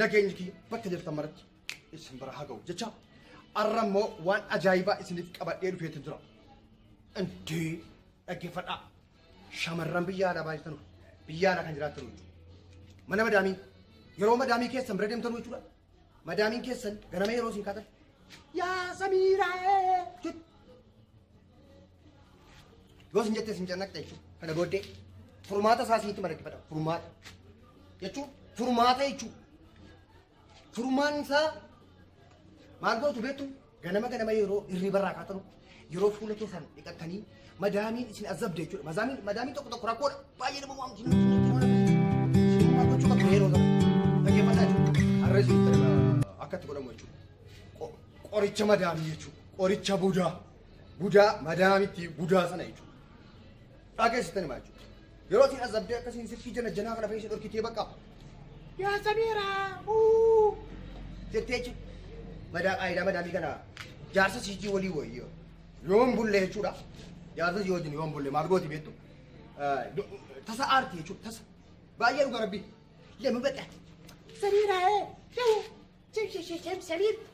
Nageenyi kiyya bakka jirtan maratti isin bira haa ga'u jecha arra immoo waan ajaa'ibaa isiniif qabadhee dhufeetu jira. Intii dhaggeeffadhaa. Shamarran biyya alaa baay'atan biyya alaa kan jiraatan jechuudha. Mana madaamii yeroo madaamii keessan bira deemtan jechuudha. Madaamiin keessan ganama yeroo isin kaatan yaa samiiraa jechuudha. Yoo isin jette isin cannaqxa jechuudha. Kana booddee furmaata isaa isinitti madaggifadha. Furmaata jechuun furmaata jechuudha. Furmaan isaa maal gootu beektu ganama ganama yeroo hirriba irraa kaatanu yeroo fuula keessan dhiqattanii madaamiin isin azabde jechuudha. Madaamiin madaamiin tokko tokko rakkoodha. Baay'ee nama waamti nuti nuti nuti nuti. Isin maal gochuu qabdu yeroo sana? Dhaggeeffadhaa jechuudha. Har'a isin akka itti godhamu jechuudha. Qo- Qoricha madaamii jechuudha. Qoricha budaa. gudaa madaamitti gudaa sana jechuudha. Dhageessitan himaa jechuudha. Yeroo isin azabdee akkasiin sirkii jana janaa kana fayyisa dhorkitee bakka. Yaa Samiira! Uu! Jettee jechuudha. Madaa qaayidaa madaamii kana jaarsa siijii walii wayyo. Yoon bulle jechuudha. Jaarsa sii wajjin yoon bulle maal gooti beektu? Tasa aarti jechuudha tasa. Baay'ee dhuga rabbi. Lemuu beektaa. Samiira ee! Lemuu! Samiir!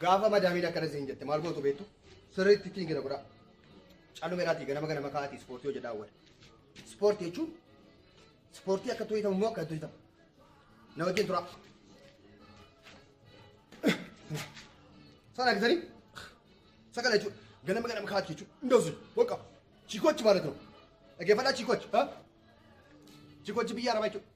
Gaafa madaamiin akkana siin jette maal gootu beektu? Sirriitti ittiin gina godhaa. Callumeeraatii ganama ganama kaa'atii ispoortii hojii daawwata. Ispoortii jechuun ispoortii akka hojjetamu immoo akka hojjetamu. Na wajjin turaa. Sana gisanii sakala jechuudha. Ganama ganama kaa'atii jechuudha. Indoosi waqa chikochi maalatu. Dhaggeeffadhaa chikochi. Chikochi biyya arabaa jechuudha.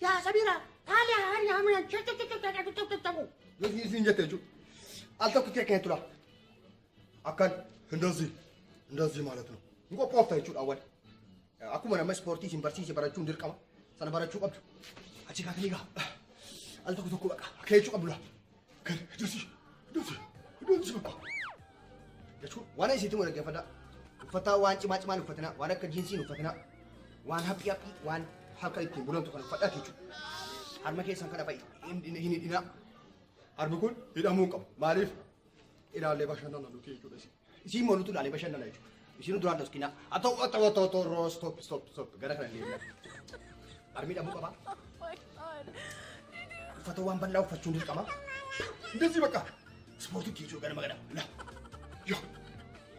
Yaa Samira, haali haali haamina cucucucucucucucucucu. Nuti isin jette jechuudha. Al tokko kee kee tura. Akkan hindazii hindazii maalat nu. Hin qophoofta jechuudha awwal. Akkuma nama ispoortii isin barsiise barachuun dirqama. Sana barachuu qabdu. Achi kaatanii gaa. Al tokko tokko baqa. Akka jechuu qabdu laa. Kan dusi dusi dusi bakka. Jechuun waan isiitti wal dhaggeeffadhaa. Uffataa waan cimaa cimaan uffatinaa waan akka jiinsiin uffatinaa waan haphii haphii waan harka ittiin bulantu kan uffadhaa jechuudha. Harma keessan kana fa'i hin hidhinaa. Harmi kun hidhamuu hin qabu. Maaliif? Ilaallee bashannana nuti jechuudha isin. Isiin moolutu ilaalee bashannana jechuudha. Isiin duraan doskina. Ato ato ato ato roo stop stop stop gara kana deemna. Armii dhabuu qabaa. Uffata waan bal'aa uffachuun dirqama. Ndezii bakka. Ispoortii kee jiru ganama ganama. La. Yo.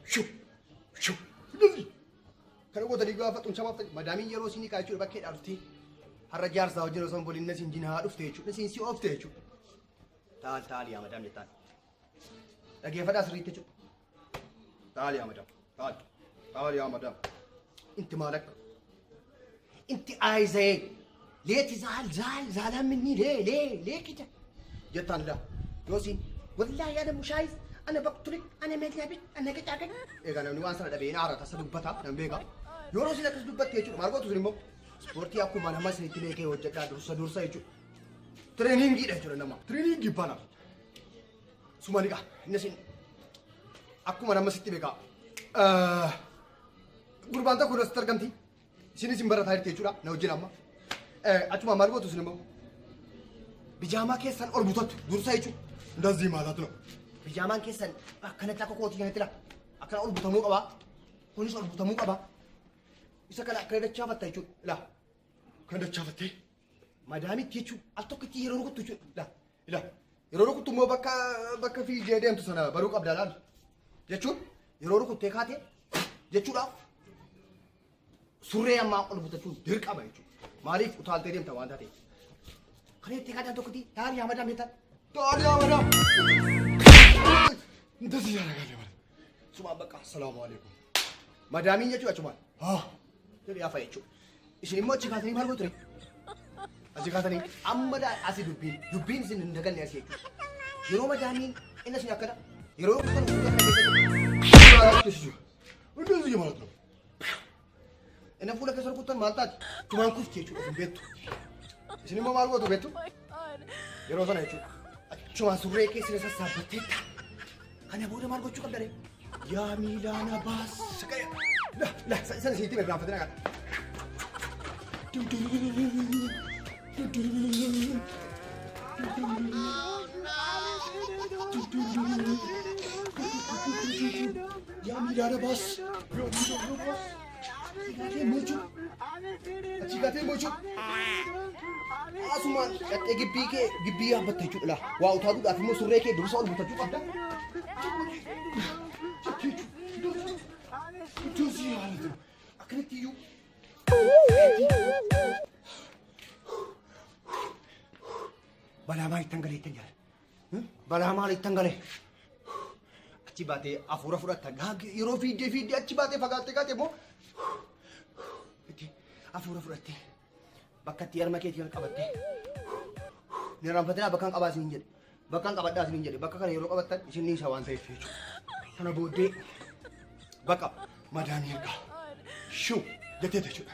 Shoo. Shoo. Ndezii. Kana gootanii gaafa xumsamaaf ta'e madaamiin yeroo isin hiikaa jechuudha bakkee dhaabdee. Har'a jaarsaa hojii osoo hin boliin na isin jinaa dhufte jechuudha. Isin si oofte jechuudha. Taal taal yaa madaam jettaan. Dhageeffadhaa sirriitti jechuudha. Taali yaa madam. Taali. Taali yaa madam. Inti maal akka? Inti aayizayee. Leeti zaal zaal zaalaa minni lee lee lee kija. Jettaan laa. Yoosiin. Wallaahi ana mushaayiz. Ana baktuli. Ana meetlaabi. Ana qicaagan. Egaa namni waan sana dhabee hin aarata. Isa dubbataa. Nan beekaa. Yoo roosiin akkas dubbatte jechuudha. Maal gootu sun immoo? Ispoortii akkuma nama isinitti beekee hojjedhaa dursa dursa jechuudha. Tireeningiidha jechuudha nama. Tireeningii bana. Sumaliqa innis inni akkuma nama sitti beekaa Eh, gurbaan tokko irratti argamti isinis hin barataa jirti jechuudha na wajjin amma Eh, achuma maal gootu isin immoo bijaamaa keessan ol butattu dursa jechuudha ndazii maalaatu na bijaamaan keessan akkanatti akka kootii kanatti la akkana ol butamuu qabaa kunis ol butamuu qabaa isa kana akkana dachaafatta jechuudha la kan dachaafattee Madaamitti jechuun al tokkitti yeroo rukuttu jechuudha. Ila yeroo rukuttu immoo bakka bakka fiigee deemtu sana baruu qabda laal. Jechuun yeroo rukuttee kaate jechuudhaaf surree ammaa ol butachuun dirqama jechuudha. Maaliif utaaltee deemta waan taateef. Kan itti kaatan tokkotti daari yaa madaam jettan. Daari yaa madaam. Intas yaa nagaa yaa madaam. Sumaa bakka assalaamu alaikum. Madaamiin jechuudha achumaan. Haa. Jedhee hafa jechuudha. Isin immoo achi kaatanii maal gootu? Achi kaatanii amma daa asi dubbiin dubbiin isin hin daganne asi jechuudha. Yeroo madaamiin inni isin akkana yeroo kutan kutan kana keessa jiru. Maaltu si jiru? Hunduu si jiru maaltu? Inni fuula keessa rukuttan maal taati? Tumaan kufti jechuudha isin beektu. Isin immoo maal gootu beektu? Yeroo sana jechuudha. Achumaan surree keessa isa saabbatteetta. Kana booda maal gochuu qabda ree? Yaa miilaana baas. La la sana sitti bira raafatina kana. Yaa miilaana baas. Atigaatee mochuu. Atigaatee mochuu. Asumaan qaxxee gibbii kee gibbii yaabbatta jechuudha laa. Waa utaa duudhaaf immoo surree kee dursa ol butachuu qabda. Ijoosii haalatu. Akkanatti iyyuu. Balaa maalittan galeettan jira. Balaa maalittan gale? Achi baatee hafuura fudhatta. Gaagee yeroo fiiddee fiiddee achi baatee fagaattee gaatee immoo itti hafuura fudhattee bakka itti harma keetii kan qabattee ni raanfatinaa bakka hin qabaa isin jedhe. Bakka hin qabadhaa isin jedhe. Bakka kana yeroo qabattan isin ni isa waan ta'eef jechuudha. Kana booddee bakka madaan ergaa shuu jetteeta jechuudha.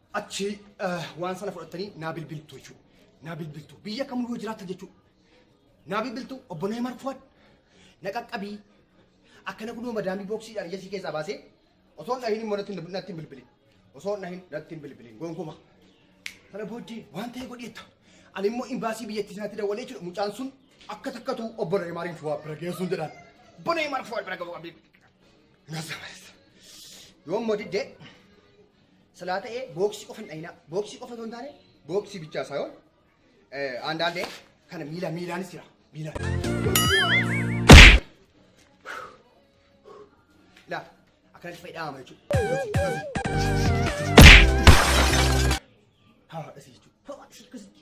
Achi waan sana fudhattanii naa bilbiltu jechuudha. Naa bilbiltu. Biyya kamuu yoo jiraattan jechuudha. Naa bilbiltu obbo Neemar Fuwad na qaqqabii akkana kunoo madaamii booksiidhaan ija sii keessaa baasee osoo hin dhahin immoo natti hin- natti hin bilbilin. Osoo hin dhahin natti hin bilbilin. Gonkumaa. Kana booddee waan ta'e godheetta. Ani immoo imbaasii biyyattii sanatti dawwalee jechuudha. Mucaan sun akka takkatu obbo Neemaariin Fuwad bira geessuun jedhaan. Obbo Neemaar Fuwad bira ga'uu qabdi. Nasa barisa. Yoo immoo diddee Silaa ta'ee booksii qofa hin dhayinaa. Booksii qofa osoo hin taane booksii bichaa saayoo aandaandee kana miila miilaanis jira. Miilaan. Ilaa akkanatti fayyadama jechuudha. Haa dhasii jechuudha. Haa dhasii akkasitti.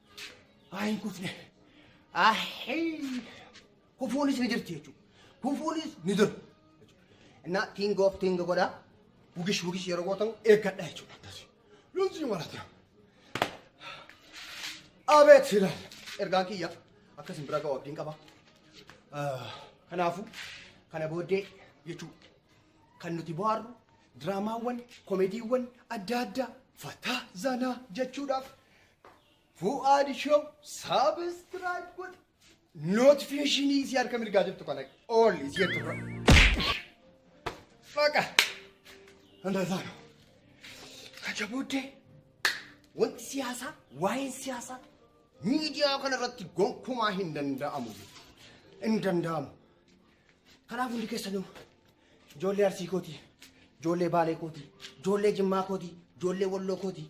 Haa hin kufne. Ahii. Kufuunis ni jirti jechuudha. Kufuunis ni jiru. Innaa king of king godha. Wugish wugish yeroo gootan eeggadha jechuudha. Akkasii. Lolsii marataa. Abeet silaan. Ergaan kiyya akkasiin bira ga'u abdiin qaba. Ah, Kanaafuu kana booddee jechuudha. Kan nuti bohaarru diraamaawwan, komediiwwan adda addaa fataa zanaa jechuudhaaf Fu'aad Show saabistiraayib godhi. Nootifiishinii isii harka mirgaa jirtu kana ool isii jettu dura. Faqa. Andazaano. Kacha booddee wanti siyaasaa waa'een siyaasaa miidiyaa kana irratti gonkumaa hin danda'amu jechuudha. Hin danda'amu. Kanaaf hundi keessanuu ijoollee arsii kootii, ijoollee baalee kootii, ijoollee jimmaa kootii, ijoollee walloo kootii,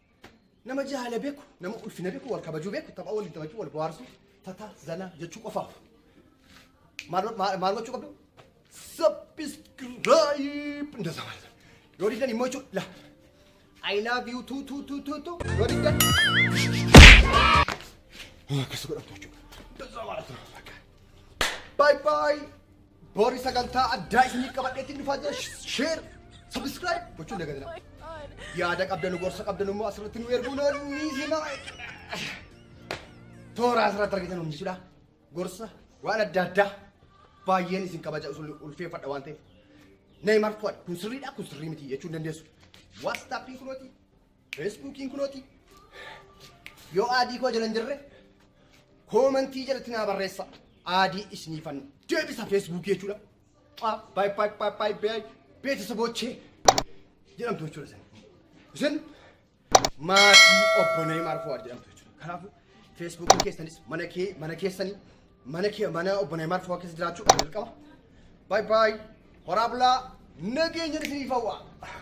Nama jaala beeku, nama ulfina beeku, wal kabajuu beeku, tapha waliin taphachuu, wal bohaarsuu, tata, zana jechuu qofaaf. Maal maal- maal gochuu qabdu? Subscribe! Ndasa maal? Yoo diddan immoo jechuudha. La. I love you too too too too too. Yoo diddan. Akkas godhamtu jechuudha. Ndasa maal? Bye bye. Bori sagantaa addaa isiniif qabadheetiin dhufaa jira. Share, subscribe gochuun dagatina. Yaada qabdanu gorsa qabdanu immoo asirratti nu erguu ni hima. Toora asirratti argitan hundi jechuudha. Gorsa waan adda addaa baay'een isin kabaja usul ulfeeffadha waan ta'eef. Neymar Fuad kun sirriidha kun sirrii miti jechuun dandeessu. Whatsapp kun Feesbuukiin kunooti. Yoo aadii koo jala hin jirre koomantii jalatti naa barreessa. Aadii isiniifan deebisa feesbuukii jechuudha. Aa, Baay baay baay baay baay beetisaboochee jedhamtu jechuudha isin. Isin maatii obbo Neeymaar Fuwaad jedhamtu jechuudha. Kanaafuu feesbuukiin keessanis mana kee mana keessanii mana kee mana obbo Neeymaar Fuwaad keessa jiraachuu dirqama. Baay baay horaa bulaa nageenya isiniif hawwa.